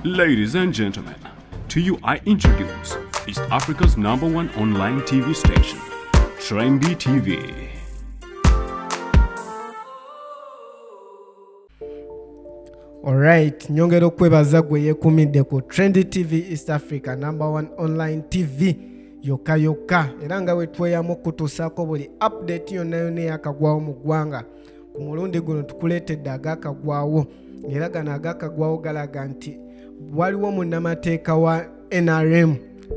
Ladies and gentlemen, to you I introduce East Africa's number one online TV station, Trendy TV. Alright, nyongera okwebaza gwe yekumidde ku Trendy TV East Africa number one online TV yokka yokka era nga wetweyamu kutuusaako buli update yonna yonna eyakagwawo mu ggwanga ku mulundi guno tukuleetedde agakagwawo era gano agakagwawo galaga nti waliwo munnamateeka wa nrm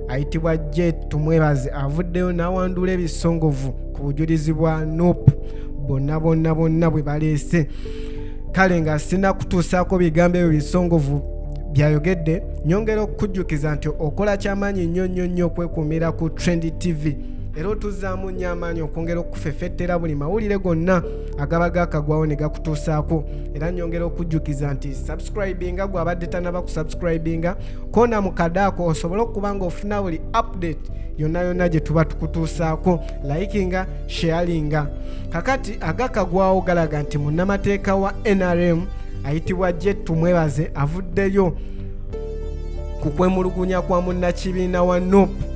ayitibwa je tumwebaze avuddeyo n'awanduula ebisongovu ku bujulizi bwa nup bonna bonna bonna bwe baleese kale nga sina kutuusaako bigambo ebyo bisongovu byayogedde nyongera okukujjukiza nti okola kyamaanyi nnyo nnyo nnyo okwekuumira ku trend tv era otuzaamu nnyo amaanyi okwongera okufefettera buli mawulire gonna agaba gakagwawo ne gakutuusaako era nyongera okujjukiza nti subscribinga gwabadde tanaba ku subscribinga koona mu kadaako osobole okuba nga ofuna buli update yonna yonna gye tuba tukutuusaako likinga sharinga kakati agakagwawo galaga nti munnamateeka wa nrm ayitibwa jetumwebaze avuddeyo kukwemulugunya kwa munnakibiina wa nup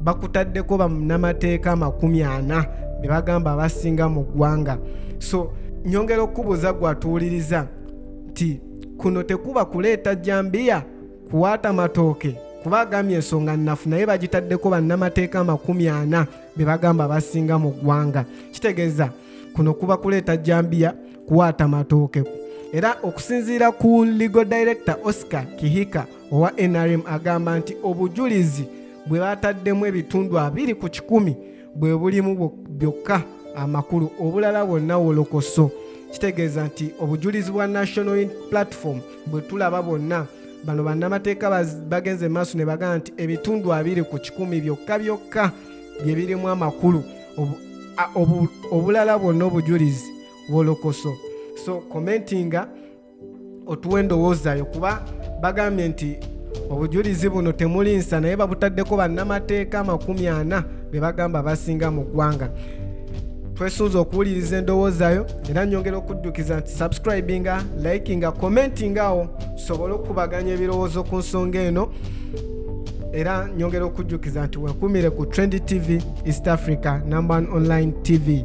bakutaddeko bamunamateeka amakumi ana be bagamba abasinga mu ggwanga so nyongera okukubuuza gwatuwuliriza nti kuno tekuba kuleeta jambiya kuwaata matooke kuba agambye ensonga nnafu naye bagitaddeko bannamateeka amakumi ana be bagamba abasinga mu ggwanga kitegeeza kuno kuba kuleeta jambiya kuwaata matooke era okusinziira ku legal director oscar kihika owa nrm agamba nti obujulizi bwe bataddemu ebitundu abiri ku kikumi bwe bulimu byokka amakulu obulala bwonna wolokoso kitegeeza nti obujulizi bwa national platform bwe tulaba bwonna bano bannamateeka bagenze maaso ne bagamba nti ebitundu abiri ku kikumi byokka byokka bye birimu amakulu obulala bwonna obujulizi wolokoso so commentinga otuwa endowoozayo kuba bagambye nti obujulizi buno temuli nsa naye babutaddeko bannamateeka amakumi ana be bagamba basinga mu ggwanga twesunze okuwuliriza endowoozayo era nyongera okuddukiza nti subscribinga likinga commentinga awo tusobole okukubaganya ebirowoozo ku nsonga eno era nyongera okujjukiza nti wekumire ku trend tv east africa number one online tv